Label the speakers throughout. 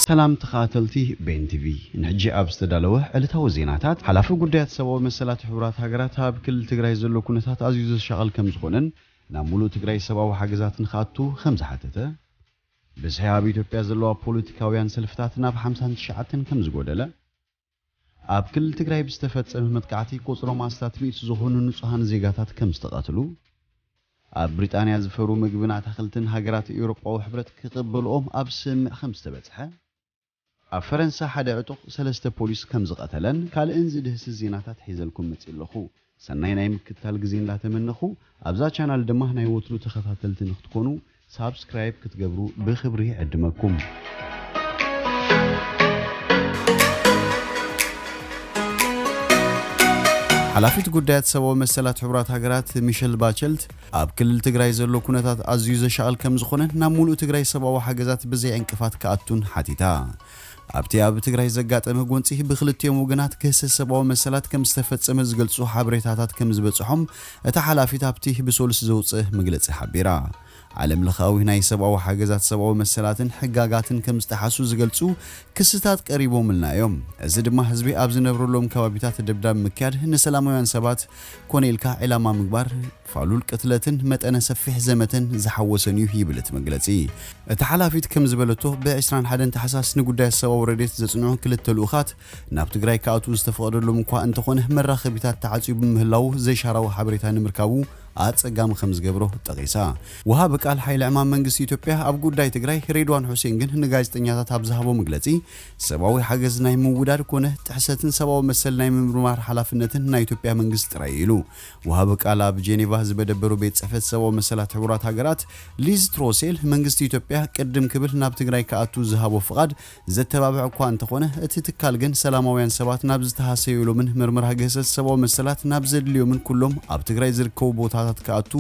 Speaker 1: ሰላም ተኸኣተልቲ ቤን ቲቪ ንሕጂ ኣብ ዝተዳለወ ዕለታዊ ዜናታት ሓላፊ ጉዳያት ሰብኣዊ መሰላት ሕቡራት ሃገራት ኣብ ክልል ትግራይ ዘሎ ኩነታት ኣዝዩ ዘሻቕል ከምዝኾነን ናብ ሙሉእ ትግራይ ሰብኣዊ ሓገዛት ንክኣቱ ከምዝሓተተ ብዝሒ ኣብ ኢትዮጵያ ዘለዋ ፖለቲካውያን ሰልፍታት ናብ ሓምሳን ትሽዓተን ከምዝጎደለ ኣብ ክልል ትግራይ ብዝተፈፀመ መጥቃዕቲ ቁፅሮም ኣስታት ሚእቲ ዝኾኑ ንፁሃን ዜጋታት ከምዝተቐትሉ፣ ኣብ ብሪጣንያ ዝፈርዉ ምግብን ኣታኽልትን ሃገራት ኤውሮጳዊ ሕብረት ክቕበልኦም ኣብ ስምምዕ ከምዝተበፅሐ፣ ኣብ ፈረንሳ ሓደ ዕጡቕ ሰለስተ ፖሊስ ከምዝቐተለን ካልእን ዝድህስስ ዜናታት ሒዘልኩም መፂእ ኣለኹ። ሰናይ ናይ ምክትታል ግዜ እንዳተመነኹ ኣብዛ ቻናል ድማ ናይ ወትሩ ተኸታተልቲ ንክትኮኑ ሳብስክራይብ ክትገብሩ ብኽብሪ ይዕድመኩም። ሓላፊት ጉዳያት ሰብኣዊ መሰላት ሕቡራት ሃገራት ሚሸል ባቸልት ኣብ ክልል ትግራይ ዘሎ ኩነታት ኣዝዩ ዘሻቕል ከም ዝኾነን ናብ ሙሉእ ትግራይ ሰብኣዊ ሓገዛት ብዘይ ዕንቅፋት ክኣቱን ሓቲታ። ኣብቲ ኣብ ትግራይ ዘጋጠመ ጎንፂ ብክልቲኦም ወገናት ግህሰት ሰብኣዊ መሰላት ከምዝተፈፀመ ዝገልፁ ሓበሬታታት ከምዝበፅሖም እታ ሓላፊት ኣብቲ ብሶሉስ ዘውፅእ መግለፂ ሓቢራ። ዓለም ለኻዊ ናይ ሰብኣዊ ሓገዛት ሰብኣዊ መሰላትን ሕጋጋትን ከምዝጠሓሱ ዝገልፁ ክስታት ቀሪቦምልና እዮም። እዚ ድማ ህዝቢ ኣብ ዝነብረሎም ከባቢታት ደብዳብ ምክያድ፣ ንሰላማውያን ሰባት ኮነ ኢልካ ዒላማ ምግባር፣ ፋሉል ቅትለትን መጠነ ሰፊሕ ዘመተን ዝሓወሰን እዩ ይብል እቲ መግለጺ። እታ ሓላፊት ከም ዝበለቶ፣ ብ ዕስራን ሓደን ታሕሳስ ንጉዳያት ሰብኣዊ ረድኤት ዘጽንዑ ክልተ ልኡኻት ናብ ትግራይ ክኣትዉ ዝተፈቐደሎም እኳ እንተኾነ መራኸቢታት ተዓጽዩ ብምህላዉ ዘይሻራዊ ሓበሬታ ንምርካቡ ኣጸጋሚ ከም ዝገብሮ ጠቒሳ። ወሃቢ ቃል ሓይሊ ዕማም መንግስቲ ኢትዮጵያ ኣብ ጉዳይ ትግራይ ሬድዋን ሑሴን ግን ንጋዜጠኛታት ኣብ ዝሃቦ መግለጺ ሰብኣዊ ሓገዝ ናይ ምውዳድ ኮነ ጥሕሰትን ሰብኣዊ መሰል ናይ ምምርማር ሓላፍነትን ናይ ኢትዮጵያ መንግስቲ ጥራይ እዩ ኢሉ። ወሃቢ ቃል ኣብ ጄኔቫ ዝመደበሩ ቤት ጽሕፈት ሰብኣዊ መሰላት ሕቡራት ሃገራት ሊዝ ትሮሴል፣ መንግስቲ ኢትዮጵያ ቅድም ክብል ናብ ትግራይ ክኣቱ ዝሃቦ ፍቓድ ዘተባብዕ እኳ እንተኾነ፣ እቲ ትካል ግን ሰላማውያን ሰባት ናብ ዝተሃሰዩሎምን ምርመራ ግህሰት ሰብኣዊ መሰላት ናብ ዘድልዮምን ኩሎም ኣብ ትግራይ ዝርከቡ ቦታታት ክኣቱ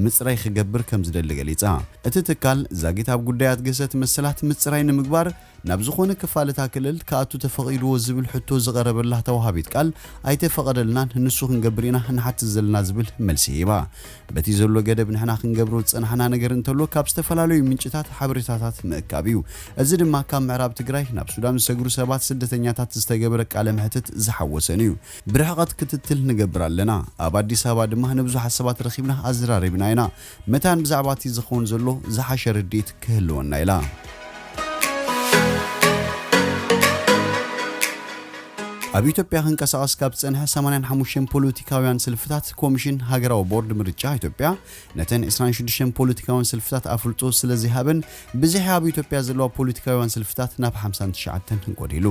Speaker 1: ምጽራይ ክገብር ከምዝደሊ ገሊጻ። እቲ ትካል ዛጊት ኣብ ጉዳያት ግህሰት መሰላት ምጽራይ ንምግባር ናብ ዝኾነ ክፋል እታ ክልል ክኣቱ ተፈቒድዎ ዝብል ሕቶ ዝቐረበላ ተወሃቢት ቃል ኣይተፈቐደልናን ንሱ ክንገብር ኢና ንሓትት ዘለና ዝብል መልሲ ሂባ። በቲ ዘሎ ገደብ ንሕና ክንገብሮ ዝጸናሕና ነገር እንተሎ ካብ ዝተፈላለዩ ምንጭታት ሓበሬታታት ምእካብ እዩ። እዚ ድማ ካብ ምዕራብ ትግራይ ናብ ሱዳን ዝሰግሩ ሰባት ስደተኛታት ዝተገበረ ቃለ መሕትት ዝሓወሰን እዩ። ብርሕቐት ክትትል ንገብር ኣለና። ኣብ ኣዲስ ኣበባ ድማ ንብዙሓት ሰባት ረኺብና ኣዘራሪብና ኢና። መታን ብዛዕባ እቲ ዝኸውን ዘሎ ዝሓሸ ርድኢት ክህልወና ኢላ። ኣብ ኢትዮጵያ ክንቀሳቐስ ካብ ዝጸንሐ ሰማንያን ሓሙሽተን ፖለቲካውያን ስልፍታት ኮሚሽን ሃገራዊ ቦርድ ምርጫ ኢትዮጵያ ነተን ዕስራን ሽዱሽተን ፖለቲካውያን ስልፍታት ኣፍልጦ ስለዘይሃበን ብዝሒ ኣብ ኢትዮጵያ ዘለዋ ፖለቲካውያን ስልፍታት ናብ ሓምሳን ትሽዓተን ጎዲሉ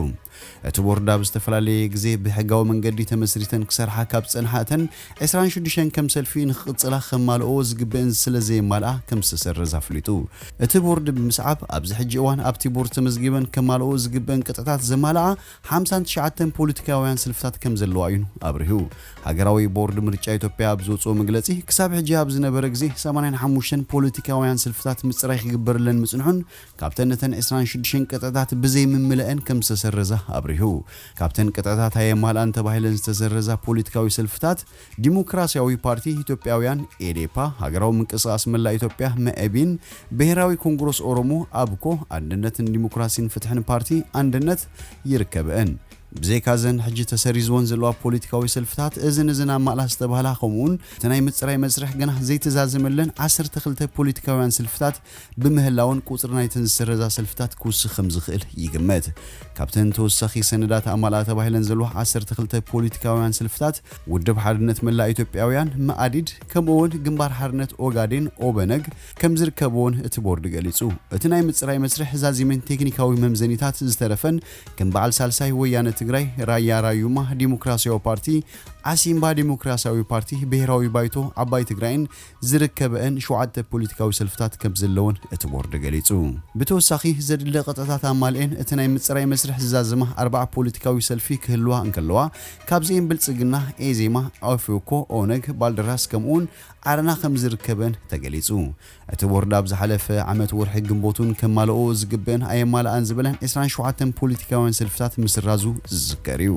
Speaker 1: እቲ ቦርድ ኣብ ዝተፈላለየ ግዜ ብሕጋዊ መንገዲ ተመስሪተን ክሰርሓ ካብ ዝጸንሓ እተን ዕስራን ሽዱሽተን ከም ሰልፊ ንክቕጽላ ከማልእኦ ዝግበእን ስለ ዘየማልኣ ከም ዝተሰረዘ ኣፍሊጡ። እቲ ቦርድ ብምስዓብ ኣብዚ ሕጂ እዋን ኣብቲ ቦርድ ተመዝጊበን ከማልእኦ ዝግበእን ቅጥዕታት ዘማልኣ ሓምሳን ትሽዓተን ፖሊቲካውያን ስልፍታት ከም ዘለዋ እዩ ኣብሪሁ። ሃገራዊ ቦርድ ምርጫ ኢትዮጵያ ኣብ ዘውጽኦ መግለጺ ክሳብ ሕጂ ኣብ ዝነበረ ግዜ ሰማንያን ሓሙሽተን ፖሊቲካውያን ስልፍታት ምጽራይ ክግበረለን ምጽንሑን ካብተን እተን ዕስራን ሽዱሽተን ቅጥዕታት ብዘይምምለእን ከም ዝተሰረዛ ኣብሪሁ። ካብተን ቅጥዕታት ኣየማልኣን ተባሂለን ዝተሰረዛ ፖሊትካዊ ሰልፍታት፣ ዲሞክራሲያዊ ፓርቲ ኢትዮጵያውያን፣ ኤዴፓ፣ ሃገራዊ ምንቅስቓስ መላእ ኢትዮጵያ፣ መኢቢን፣ ብሄራዊ ኮንግሮስ ኦሮሞ፣ ኣብኮ፣ ኣንድነት ንዲሞክራሲን ፍትሕን ፓርቲ፣ ኣንድነት፣ ይርከበእን። ብዘይካ እዘን ሕጂ ተሰሪዝወን ዘለዋ ፖሊትካዊ ሰልፍታት፣ እዝን እዝን ኣማልኣ ዝተባህላ ከምኡውን እቲ ናይ ምጽራይ መስርሕ ገና ዘይተዛዘመለን ዓሰርተ ክልተ ፖሊትካውያን ስልፍታት ብምህላወን ቁጽሪ ናይተን ዝስረዛ ሰልፍታት ክውስኽ ከም ዝኽእል ይግመት። ካብተን ተወሳኺ ሰነዳት ኣማልኣ ተባሂለን ዘለዋ ዓሰርተ ክልተ ፖሊቲካውያን ሰልፍታት፣ ውድብ ሓርነት መላእ ኢትዮጵያውያን፣ መኣዲድ፣ ከምኡ'ውን ግንባር ሓርነት ኦጋዴን፣ ኦበነግ፣ ከም ዝርከብዎን እቲ ቦርድ ገሊጹ። እቲ ናይ ምጽራይ መስርሕ ዛዚምን ቴክኒካዊ መምዘኒታት ዝተረፈን ከም በዓል ሳልሳይ ወያነ ትግራይ፣ ራያ ራዩማ፣ ዲሞክራሲያዊ ፓርቲ፣ ዓሲምባ፣ ዲሞክራሲያዊ ፓርቲ፣ ብሄራዊ ባይቶ፣ ዓባይ ትግራይን ዝርከበኤን ሸውዓተ ፖሊቲካዊ ሰልፍታት ከምዘለወን እቲ ቦርድ ገሊጹ። ብተወሳኺ ዘድሊ ቅጥዕታት ኣማልኤን እቲ ናይ ምጽራይ መስርሕ ዝዛዘማ ኣርብዓ ፖሊቲካዊ ሰልፊ ክህልዋ እንከለዋ ካብዚኤን ብልጽግና፣ ኤዜማ፣ ኦፌኮ፣ ኦነግ፣ ባልደራስ ከምኡውን ዓረና ከምዝርከበኤን ተገሊጹ። እቲ ቦርድ ኣብ ዝሓለፈ ዓመት ወርሒ ግንቦትውን ከማለእኦ ዝግበኤን ኣየማለኣን ዝበለን ዕስራን ሸውዓተን ፖሊቲካውያን ሰልፍታት ምስራዙ ዝዝከር እዩ።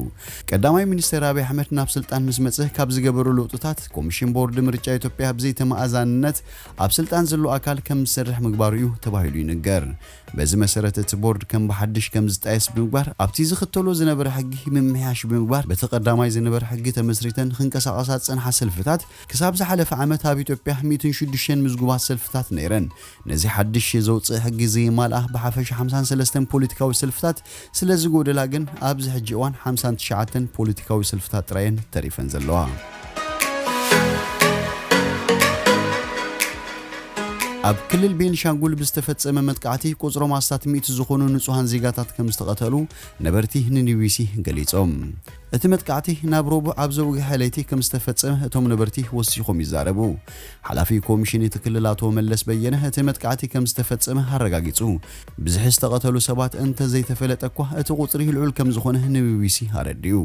Speaker 1: ቀዳማይ ሚኒስተር ኣቢይ ኣሕመድ ናብ ስልጣን ምስ መጸ ካብ ዝገበሮ ለውጥታት፣ ኮሚሽን ቦርድ ምርጫ ኢትዮጵያ ብዘይተመኣዛንነት ኣብ ስልጣን ዘሎ ኣካል ከም ዝሰርሕ ምግባሩ እዩ ተባሂሉ ይንገር። በዚ መሰረት እቲ ቦርድ ከም ብሓድሽ ከም ዝጣየስ ብምግባር ኣብቲ ዝኽተሎ ዝነበረ ሕጊ ምምሕያሽ ብምግባር በቲ ቀዳማይ ዝነበረ ሕጊ ተመስሪተን ክንቀሳቐሳ ዝፀንሓ ሰልፍታት ክሳብ ዝሓለፈ ዓመት ኣብ ኢትዮጵያ ሚእትን ሽዱሽተን ምዝጉባት ሰልፍታት ነይረን ነዚ ሓድሽ ዘውጽእ ሕጊ እዚ የማልኣ። ብሓፈሻ ሓምሳን ሰለስተን ፖሊቲካዊ ሰልፍታት ስለ ዝጎደላ ግን ኣብዚ ሕጂ እዋን ሓምሳን ትሽዓተን ፖሊቲካዊ ሰልፍታት ጥራይ እየን ተሪፈን ዘለዋ። ኣብ ክልል ቤንሻንጉል ብዝተፈጸመ መጥቃዕቲ ቁጽሮም ኣስታት ሚእቲ ዝኾኑ ንጹሃን ዜጋታት ከም ዝተቐተሉ ነበርቲ ንኒቢሲ ገሊጾም። እቲ መጥቃዕቲ ናብ ረቡዕ ኣብ ዘውግሐ ለይቲ ከምዝተፈጸመ እቶም ነበርቲ ወሲኾም ይዛረቡ። ሓላፊ ኮሚሽን እቲ ክልል ኣቶ መለስ በየነ እቲ መጥቃዕቲ ከምዝተፈጸመ ኣረጋጊጹ። ብዝሒ ዝተቐተሉ ሰባት እንተዘይተፈለጠ'ኳ እቲ ቁጽሪ ልዑል ከምዝኾነ ንቢቢሲ ኣረዲኡ።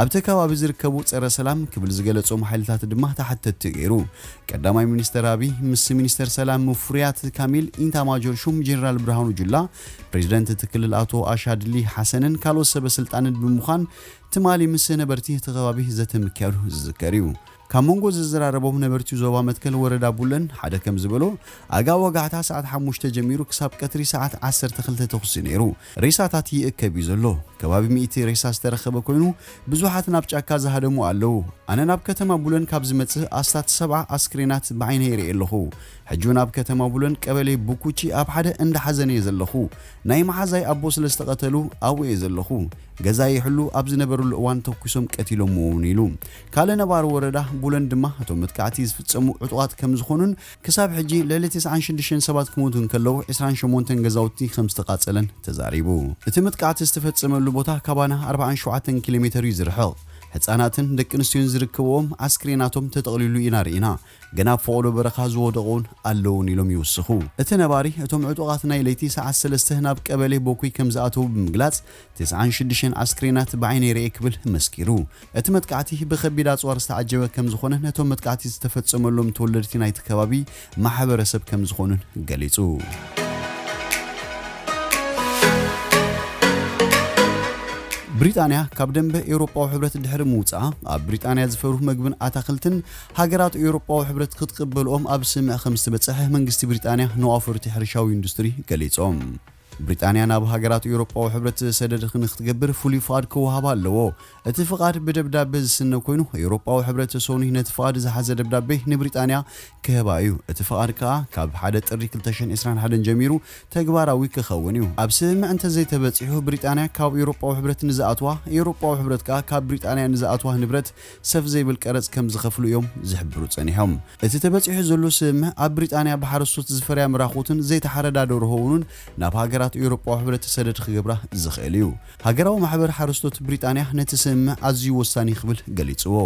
Speaker 1: ኣብቲ ከባቢ ዝርከቡ ጸረ ሰላም ክብል ዝገለጾም ሓይልታት ድማ ተሓተትቲ ገይሩ። ቀዳማይ ሚኒስተር ኣቢይ ምስ ሚኒስተር ሰላም ሙፍሪያት ካሚል፣ ኢታማጆር ሹም ጀነራል ብርሃኑ ጁላ፣ ፕሬዚደንት እቲ ክልል ኣቶ ኣሻድሊ ሓሰንን ካልኦት ሰበ ስልጣንን ብምዃን ትማሊ ምስ ነበርቲ እቲ ከባቢ ዘተ ምክያዱ ዝዝከር እዩ። ካብ መንጎ ዘዘራረቦም ነበርቲ ዞባ መትከል ወረዳ ቡለን ሓደ ከም ዝበሎ፣ ኣጋ ወጋሕታ ሰዓት ሓሙሽተ ጀሚሩ ክሳብ ቀትሪ ሰዓት ዓሰርተ ክልተ ተኹሲ ነይሩ። ሬሳታት ይእከብ እዩ ዘሎ። ከባቢ ሚእቲ ሬሳ ዝተረኸበ ኮይኑ ብዙሓት ናብ ጫካ ዝሃደሙ ኣለዉ። ኣነ ናብ ከተማ ቡለን ካብ ዝመፅእ ኣስታት ሰብዓ ኣስክሬናት ብዓይነይ ሪኤ ኣለኹ። ሕጂ ውን ኣብ ከተማ ቡለን ቀበሌ ቡኩቺ ኣብ ሓደ እንዳ ሓዘን እየ ዘለኹ። ናይ መሓዛይ ኣቦ ስለ ዝተቐተሉ ኣብኡ እየ ዘለኹ። ገዛይ ይሕሉ ኣብ ዝነበርሉ እዋን ተኲሶም ቀቲሎምዎ ውን ኢሉ። ካልእ ነባሪ ወረዳ ቡለን ድማ እቶም መጥቃዕቲ ዝፍጸሙ ዕጡቓት ከም ዝኾኑን ክሳብ ሕጂ ልዕሊ ተስዓን ሽዱሽተን ሰባት ክሞቱ እንከለዉ ዕስራን ሸሞንተን ገዛውቲ ከም ዝተቓጸለን ተዛሪቡ። እቲ መጥቃዕቲ ዝተፈጸመሉ ቦታ ካባና ኣርብዓን ሸውዓተን ኪሎ ሜተር እዩ ዝርሕቕ። ህጻናትን ደቂ ኣንስትዮን ዝርከብዎም ኣስክሬናቶም ተጠቕሊሉ ኢና ርኢና። ግን ኣብ ፎቕዶ በረኻ ዝወደቑ'ውን ኣለዉን ኢሎም ይውስኹ። እቲ ነባሪ፣ እቶም ዕጡቓት ናይ ለይቲ ሰዓት ሰለስተ ናብ ቀበሌ ቦኩይ ከም ዝኣተዉ ብምግላጽ፣ ትስዓን ሽዱሽተን ኣስክሬናት ብዓይነይ ርእየ ክብል መስኪሩ። እቲ መጥቃዕቲ ብከቢድ ኣጽዋር ዝተዓጀበ ከም ዝኾነን እቶም መጥቃዕቲ ዝተፈጸመሎም ተወለድቲ ናይቲ ከባቢ ማሕበረሰብ ከም ዝኾኑን ገሊጹ። ብሪጣንያ ካብ ደንበ ኤውሮጳዊ ሕብረት ድሕሪ ምውጽኣ፣ ኣብ ብሪጣንያ ዝፈሩ መግብን ኣታኽልትን ሃገራት ኤውሮጳዊ ሕብረት ክትቅበልኦም ኣብ ስምምዕ ከም ዝተበጸሐ መንግስቲ ብሪጣንያ ንኣውፈርቲ ሕርሻዊ ኢንዱስትሪ ገሊጾም። ብሪጣንያ ናብ ሃገራት ኤውሮጳዊ ሕብረት ሰደድ ንክትገብር ፍሉይ ፍቓድ ክወሃባ ኣለዎ። እቲ ፍቓድ ብደብዳበ ዝስነ ኮይኑ፣ ኤውሮጳዊ ሕብረት ሰኑይ ነቲ ፍቓድ ዝሓዘ ደብዳቤ ንብሪጣንያ ክህባ እዩ። እቲ ፍቓድ ከኣ ካብ ሓደ ጥሪ ክልተ ሽሕን ዕስራን ሓደን ጀሚሩ ተግባራዊ ክኸውን እዩ። ኣብ ስምምዕ እንተዘይተበጺሑ ብሪጣንያ ካብ ኤውሮጳዊ ሕብረት ንዝኣትዋ፣ ኤውሮጳዊ ሕብረት ከኣ ካብ ብሪጣንያ ንዝኣትዋ ንብረት፣ ሰፍ ዘይብል ቀረጽ ከም ዝኸፍሉ እዮም ዝሕብሩ ጸኒሖም። እቲ ተበጺሑ ዘሎ ስምምዕ፣ ኣብ ብሪጣንያ ብሓረስቶት ዝፈርያ ምራኹትን ዘይተሓረዳ ደርሆ'ውንን ናብ ሃገራት ኤውሮጳዊ ሕብረት ሰደድ ክገብራ ዘኽእል እዩ። ሃገራዊ ማሕበር ሓረስቶት ብሪጣንያ ነቲ ስምምዕ ኣዝዩ ወሳኒ ክብል ገሊጽዎ።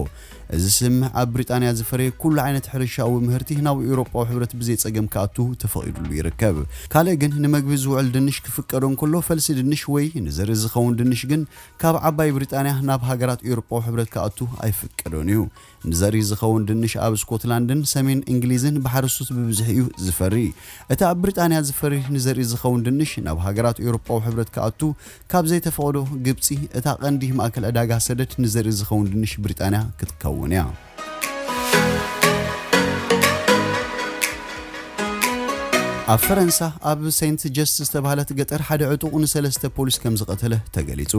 Speaker 1: እዚ ስምምዕ ኣብ ብሪጣንያ ዝፈረየ ኩሉ ዓይነት ሕርሻኣዊ ምህርቲ ናብ ኤውሮጳዊ ሕብረት ብዘይጸገም ክኣቱ ተፈቒዱሉ ይርከብ። ካልእ ግን ንመግቢ ዝውዕል ድንሽ ክፍቀዶ እንከሎ ፈልሲ ድንሽ ወይ ንዘርኢ ዝኸውን ድንሽ ግን ካብ ዓባይ ብሪጣንያ ናብ ሃገራት ኤውሮጳዊ ሕብረት ክኣቱ ኣይፍቀዶን እዩ። ንዘርኢ ዝኸውን ድንሽ ኣብ ስኮትላንድን ሰሜን እንግሊዝን ብሓረስቶት ብብዝሒ እዩ ዝፈሪ። እቲ ኣብ ብሪጣንያ ዝፈሪ ንዘርኢ ዝኸውን ድንሽ ናብ ሃገራት ኤውሮጳዊ ሕብረት ክኣቱ ካብ ዘይተፈቕዶ ግብጺ እታ ቀንዲ ማእከል ዕዳጋ ሰደድ ንዘርኢ ዝኸውን ድንሽ ብሪጣንያ ክትከውን እያ። ኣብ ፈረንሳ ኣብ ሴንት ጀስት ዝተባህለት ገጠር ሓደ ዕጡቕ ንሰለስተ ፖሊስ ከም ዝቐተለ ተገሊጹ።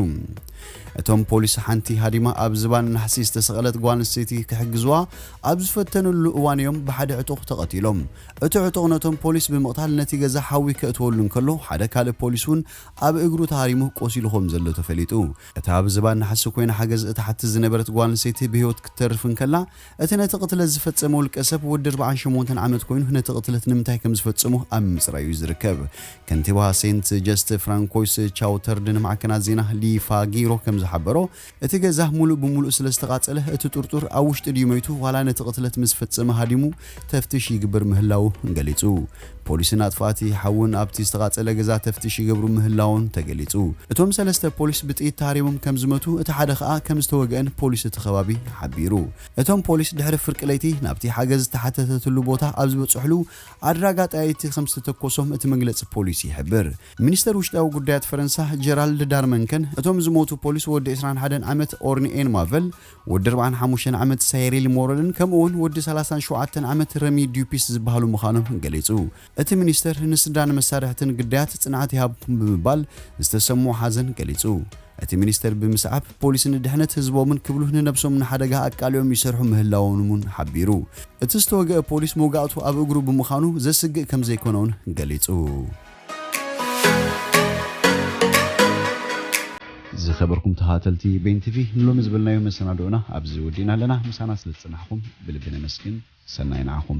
Speaker 1: እቶም ፖሊስ ሓንቲ ሃዲማ ኣብ ዝባን ናሕሲ ዝተሰቐለት ጓል ኣንስተይቲ ክሕግዝዋ ኣብ ዝፈተንሉ እዋን እዮም ብሓደ ዕጡቕ ተቐቲሎም። እቲ ዕጡቕ ነቶም ፖሊስ ብምቕታል ነቲ ገዛ ሓዊ ከእትወሉ እንከሎ ሓደ ካልእ ፖሊስ እውን ኣብ እግሩ ተሃሪሙ ቆሲሉ ከም ዘሎ ተፈሊጡ። እታ ኣብ ዝባን ናሕሲ ኮይና ሓገዝ እትሓትት ዝነበረት ጓል ኣንስተይቲ ብህይወት ክትተርፍ እንከላ፣ እቲ ነቲ ቅትለት ዝፈጸመ ውልቀሰብ ወዲ ኣርብዓን ሸሞንተን ዓመት ኮይኑ ነቲ ቅትለት ንምንታይ ከም ዝፈጸሞ ኣብ ምምጽራይ እዩ ዝርከብ። ከንቲባ ሴንት ጀስት ፍራንኮይስ ቻውተርድ ንማዕከናት ዜና ሊ ፋጊሮ ከም ዝሓበሮ፣ እቲ ገዛ ምሉእ ብምሉእ ስለ ዝተቓጸለ እቲ ጥርጡር ኣብ ውሽጢ ድዩ መይቱ ዋላ ነቲ ቅትለት ምስ ፈጸመ ሃዲሙ ተፍትሽ ይግብር ምህላዉ ገሊጹ። ፖሊስን ኣጥፋእቲ ሓውን ኣብቲ ዝተቓጸለ ገዛ ተፍትሽ ይገብሩ ምህላዎም ተገሊጹ። እቶም ሰለስተ ፖሊስ ብጥይት ተሃሪሞም ከም ዝመቱ እቲ ሓደ ከኣ ከም ዝተወግአን ፖሊስ እቲ ከባቢ ሓቢሩ። እቶም ፖሊስ ድሕሪ ፍርቂ ለይቲ ናብቲ ሓገዝ ዝተሓተተትሉ ቦታ ኣብ ዝበጽሕሉ ኣድራጋ ጠያይቲ ከም ዝተተኮሶም እቲ መግለጺ ፖሊስ ይሕብር። ሚኒስተር ውሽጣዊ ጉዳያት ፈረንሳ ጀራልድ ዳርመንከን እቶም ዝሞቱ ፖሊስ ወዲ ዕስራን ሓደን ዓመት ኦርኒኤን ማቨል፣ ወዲ ኣርብዓን ሓሙሽተን ዓመት ሳየሪል ሞረልን ከምኡ'ውን ወዲ ሰላሳን ሸውዓተን ዓመት ረሚ ዱፒስ ዝበሃሉ ምዃኖም ገሊጹ። እቲ ሚኒስተር ንስድራን መሳርሕትን ግዳያት ጽንዓት ይሃብኩም ብምባል ዝተሰምዖ ሓዘን ገሊጹ። እቲ ሚኒስተር ብምስዓብ ፖሊስ ንድሕነት ህዝቦምን ክብሉ ንነብሶም ንሓደጋ ኣቃሊዖም ይሰርሑ ምህላዎምን'ውን ሓቢሩ። እቲ ዝተወግአ ፖሊስ መውጋእቱ ኣብ እግሩ ብምዃኑ ዘስግእ ከምዘይኮነ'ውን ገሊጹ። ዝኸበርኩም ተኸታተልቲ ቤን ቲቪ ንሎሚ ዝበልናዮ መሰናድኦና ኣብዚ ወዲእና ኣለና። ምሳና ስለ ዝጸናሕኩም ብልቢ ነመስግን። ሰናይ ንዓኹም።